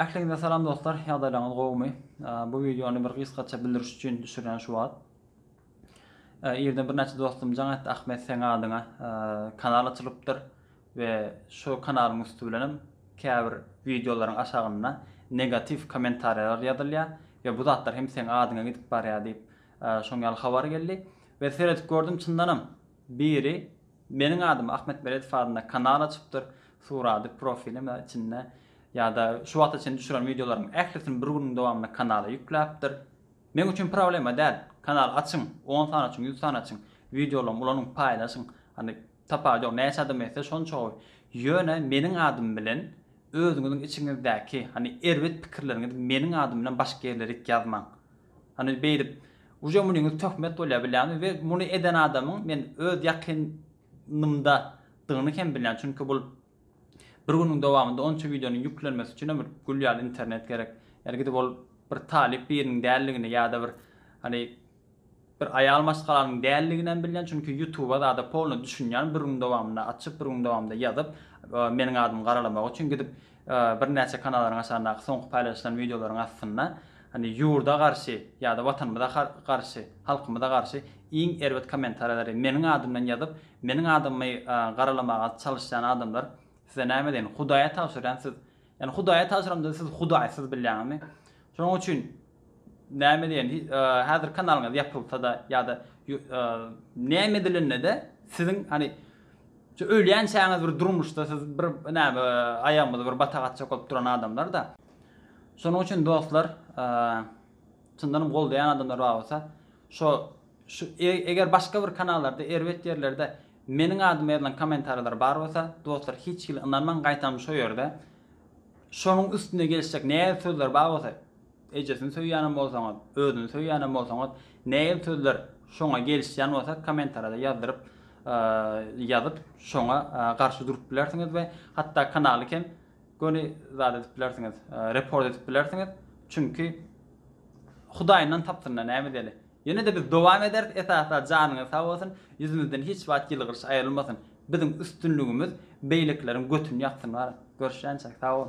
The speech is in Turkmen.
Ähliňize salam dostlar, ýagdaýlaryňyz gowumy? Bu wideony bir gysgaça bildiriş üçin düşürýän şu wagt. Irden birnäçe dostum jaň etdi, Ahmet seň adyňa kanal açylypdyr we şu kanalyň üsti bilen hem käbir wideolaryň aşagynda negatiw kommentariýalar ýazylýar we bu zatlar hem seň adyňa gidip barýar diýip şoň ýaly habar geldi we seredip gördüm çyndanam Biri Meniň adym Ahmet Beredow adynda kanal açypdyr, suraty profilim içinde ýa-da şu wagta çenli düşüren wideolaryň ählisini bir günüň dowamynda kanala ýükläpdir. Meň üçin problema däl. Kanal açyň, on sany açyň, ýüz sany açyň, wideolarymy ulanyň, paýlaşyň. Hany, tapawudy ýok, näçe adam etse şonça gowy. Ýöne meniň adym bilen özüňiziň içiňizdäki, hany erbet pikirleriňizi meniň adym bilen başga ýerlere git ýazmaň. Hany beýdip uje munyňyz töhmet bolýa bilýäňmi we muny eden adamyň men öz ýakyn nymda dygyny hem bilýän çünki bul bir günüň dowamynda onça wideonyň ýüklenmesi üçin hem bir gül ýaly internet gerek ýa-da gidip ol bir talyp biriniň däldigini ýa-da bir hany bir aýal maşgalanyň däldigini hem bilýän çünki ýutuba zada polny düşünýän bir günüň dowamynda açyp bir günüň dowamynda ýazyp meniň adymy garalamak üçin gidip Birnäçe kanalaryň haçandaky soňky paýlaşylan wideolaryň astynda hani ýurda garşy ýa-da watanymyza garşy, halkymyza garşy iň erbet kommentariýalary meniň adymdan ýazyp, meniň adymy garalamaga çalyşýan adamlar size näme deýin, Hudaýa tabşyrýan siz, ýani Hudaýa tabşyramda siz Hudaýsyz bilýäňizmi? Şonuň üçin Näme diýen häzir kanalyňyz ýapylsada ýada näme edilendede siziň hany şu ölýänçäňiz bir durmuşda siz bir näme aýagymyzy bir batag atjak bolup duran adamlarda şonuň üçin dostlar çyndanam goldaýan adamlar bar bolsa şo şu eger başga bir kanallarda erbet ýerlerde meniň adyma ýazylan komentariýalar bar bolsa dostlar hiç hili ynanmaň gaýtam şo ýerde şonuň üstüne gelişjek näz sözler bar bolsa Ejesini söýýänem bolsaňyz, özüni söýýänem bolsaňyz, nägil sözler şoňa gelişýän bolsa komentarada ýazdyryp ýazyp şoňa garşy durup bilersiňiz we hatda kanaly kem göni zat edip bilersiňiz report edip bilersiňiz çünki hudaýyndan tapsynda näme edeli ýenede biz dowam ederis esasda janyňyz sag bolsun ýüzüňizden hiç wagt ýylgyryş aýrylmasyn biziň üstünligimiz beýlekileriň götüni ýaksyn görüşýänçäk sag bol.